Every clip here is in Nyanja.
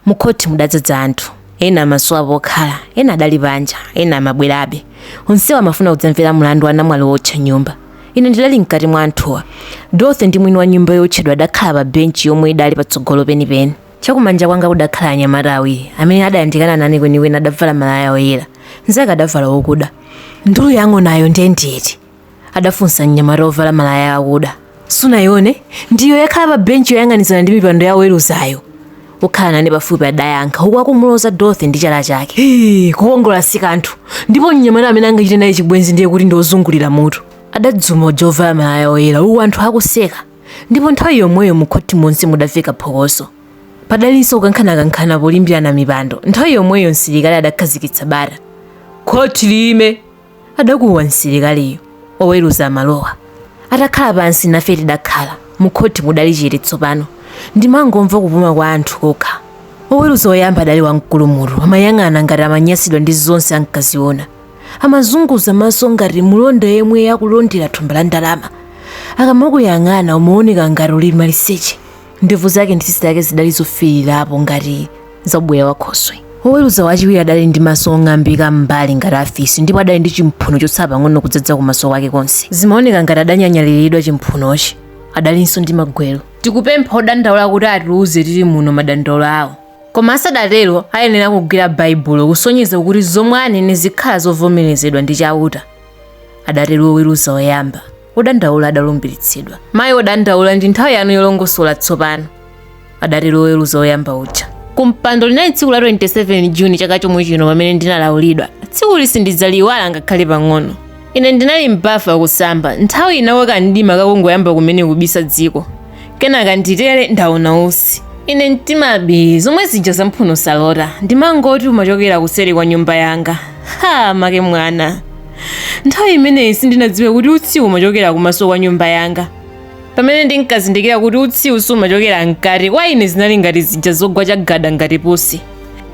Mukhothi mudadzadza anthu. Ena amasowa pokhala, ena adali panja, ena amabwerabe. Onsewa amafuna kudzamvera mlandu wa namwali wootcha nyumba. Ine ndidali mkati mwa anthuwa. Dorothy ndi mwini wa nyumba yootchedwa adakhala pa benchi yomwe idali patsogolo penipeni. Chakumanja kwanga kudakhala anyamata awiri amene adayandikana nane kwenikweni adavala malaya oyera. Mzake adavala okuda. Ndulu ya ng'onayo ndiye ndi iti? adafunsa mnyamata wovala malaya akuda sunayione ndiyo yakhala pa benchi yoyang'anizana ndi mipando ya oweruzayo wokhala nane pafupi adayankha uku akumuloza dorothy ndi chala chake "Hii, kukongola si kanthu ndipo mnyamata amene angachite naye chibwenzi ndiye kuti ndi wozungulira mutu adadzuma uja wovala malaya oyera uku anthu akuseka ndipo nthawi yomweyo mukhothi monse mudafika phokoso padalinso kukankhanakankhana polimbirana mipando nthawi yomweyo msilikali adakhazikitsa bata khothi liime adakuwa msilikaliyo oweruza amalowa atakhala pansi nafe tidakhala mukhothi mudali chete tsopano ndimangomva kupuma kwa anthu kokha woweruza woyamba adali wamkulu mutu amayang'ana ngati amanyasidwa ndi zonse ankaziona amazunguza maso ngati mulonda yemwe akulondera thumba la ndalama akamakuyang'ana umaoneka ngati uli maliseche ndevu zake ndi tsitsi lake zidali zofiirirapo ngati za ubweya wa khoswe woweruza wachiwiri adali ndi maso ong'ambika m'mbali ngati afisi ndipo adali ndi chimphuno chotsala pang'ono kudzadza kumaso kwake konse zimaoneka ngati adanyanyaliridwa chimphunochi adalinso ndi magwero tikupempha odandaula kuti atiuze tili muno madandaulo awo koma asadatero ayenera kugwira baibulo kusonyeza kuti zomwe anene zikhala zovomerezedwa ndi chauta adatero woweruza woyamba wodandaula adalumbiritsidwa mayi wodandaula ndi nthawi yanu yolongosola tsopano adatero woweruza woyamba uja kumpando linali tsiku la 27 juni chaka chomwe chino pamene ndinalaulidwa tsiku ili sindidzaliyiwala ngakhale pang'ono ine ndinali m'bafa kusamba nthawiyi nkuti mdima ukungoyamba kumene kubisa dziko kenaka nditere ndaona utsi ine mtima bi zomwe zija za mphuno salota ndimangoti umachokera kuseri kwa nyumba yanga ha make mwana nthawi imeneyi sindinadziwe kuti utsiwu umachokera kumaso kwa nyumba yanga pamene ndinkazindikira kuti utsiwu sumachokera mkati kwa ine zinali ngati zija zogwa chagada ngati pusi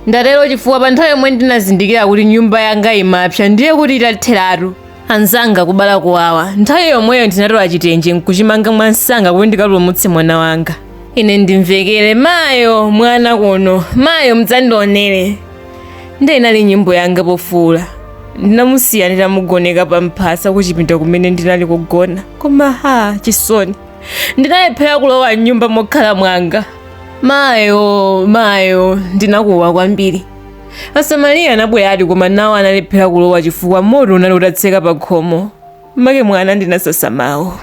ndatero chifukwa pa nthawi yomwe ndinazindikira kuti nyumba yanga imapsa ndiye kuti itatheratu anzanga kubala kuwawa nthawi yomweyo ndinatola chitenje nkuchimanga mwamsanga kuti ndikapulumutse mwana wanga ine ndimvekere mayo mwana kuno mayo mudzandionere ndiye inali nyimbo yanga pofuula ndinamusiya nditamugoneka pa mphasa kuchipinda kumene ndinali kugona koma ha chisoni ndinalephera kulowa mnyumba mokhala mwanga mayo mayo ndinakuwa kwambiri asamariya anabweradi koma nawo analephera kulowa chifukwa moto unali utatseka pa khomo make mwana ndinasasa mawu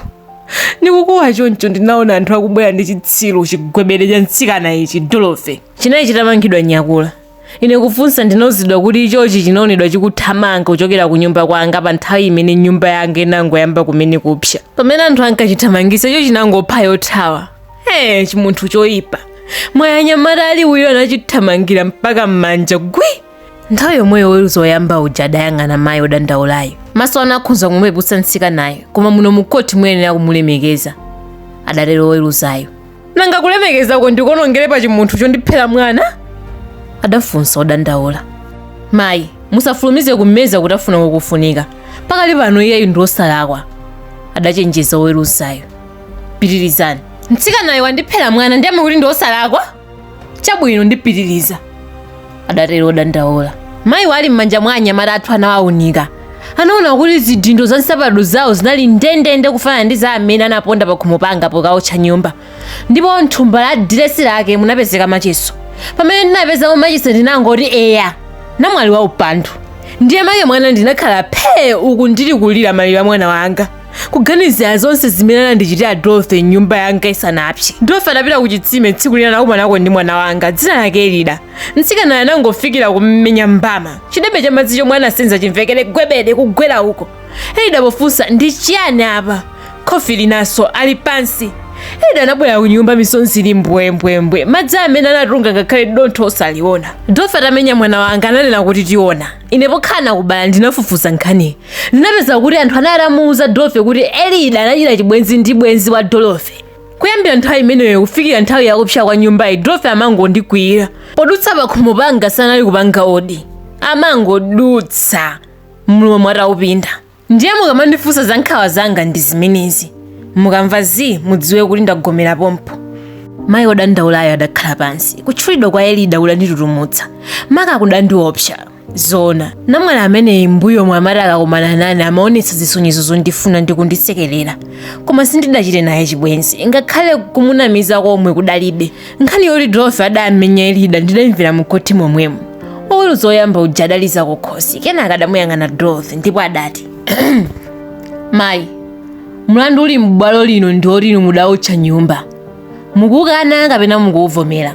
ndikukuwa choncho ndinaona anthu akubwera ndi chitsiru chigwebere cha mtsikana ichi dorothy chinali chitamangidwa nyakula ine kufunsa ndinauzidwa kuti ichochi chinaonedwa chikuthamanga kuchokera ku nyumba kwanga pa nthawi imene nyumba yanga inangoyamba kumene kupsa pamene anthu ankachithamangisa icho chinangopha yothawa Ee, chimunthu choyipa mwayi anyamata ali uyo anachithamangira mpaka m'manja gwi nthawi yomweyo woweruza woyamba uja adayang'ana mayi odandaulayo maso anu akhoza kumupeputsa mtsikanayo koma muno mukhoti muyenera kumulemekeza adatero oweruzayo nanga kulemekezako ndikonongere pa chimunthu chondiphera mwana adafunsa odandaula mayi musafulumize kumeza kutafuna kukufunika pakali pano iyeyu ndi osalakwa adachenjeza oweruzayo pitirizani mtsikanayu wandiphera mwana ndiye mukuti ndi osalakwa chabwino ndipitiriza adatero odandaula mayiyu ali m'manja mwa anyamata athu anawawunika anaona kuti zidindo za nsapato zawo zinali ndendende kufanana ndi za amene anaponda pa khomo panga pokaotcha nyumba ndipo mthumba la diresi lake munapezeka machiso pamene ndinapezamo machesi ndinangoti eya namwali wa upandu ndiye make mwana ndinakhala phee uku ndili kulira maliro a mwana wanga kuganizira zonse zimene anandichitira dorothy nyumba yanga isanapse dorothy atapita ku chitsime tsiku lina nakumanako ndi mwana wanga dzina lake elida mtsikanayo anangofikira kummenya mbama chidebe cha madzi chomwe anasenza chimvekere gwebede kugwera uko elida pofunsa ndi chiyani apa khofi linanso ali pansi elida anabwera ku nyumba misonzi ili mbwembwembwe madzi amene anatunga ngakhale dontho osaliona dorothy atamenya mwana wanga ananena kuti tiona ine pokhala nakubala ndinafufuza nkhaniyi ndinapeza kuti anthu anali atamuwuza dorothy kuti elida anachita chibwenzi ndi bwenzi wa dorothy kuyambira nthawi imeneyo kufikira nthawi yakupsa kwa nyumbayi dorothy amangondikwiyira podutsa pakhomo panga sanali kupanga odi amangodutsa mlomo ataupinda Ndiye mukamandifunsa za nkhawa zanga ndi zimenezi. Mukamva zii mudziwe kuti ndagomera pompo. Mayi wodandaulayo adakhala pansi. Kutchulidwa kwa Elida kudanditutumutsa. Maka kudandiopsa. Zoona, namwali ameneyi m'mbuyomu amati akakumana nane amaonetsa zisonyezo zondifuna ndi kundisekerera. Koma sindidachite naye chibwenzi, ngakhale kumunamiza komwe kudalibe. nkhani yoti dorothy adamenya elida ndidayimvera mukhoti momwemo oweruza oyamba uja adaliza kukhosi kenaka adamuyang'ana dorothy ndipo adati mayi mlandu uli m'bwalo lino ndi oti inu mudawotcha nyumba mukukana kapena mukuwuvomera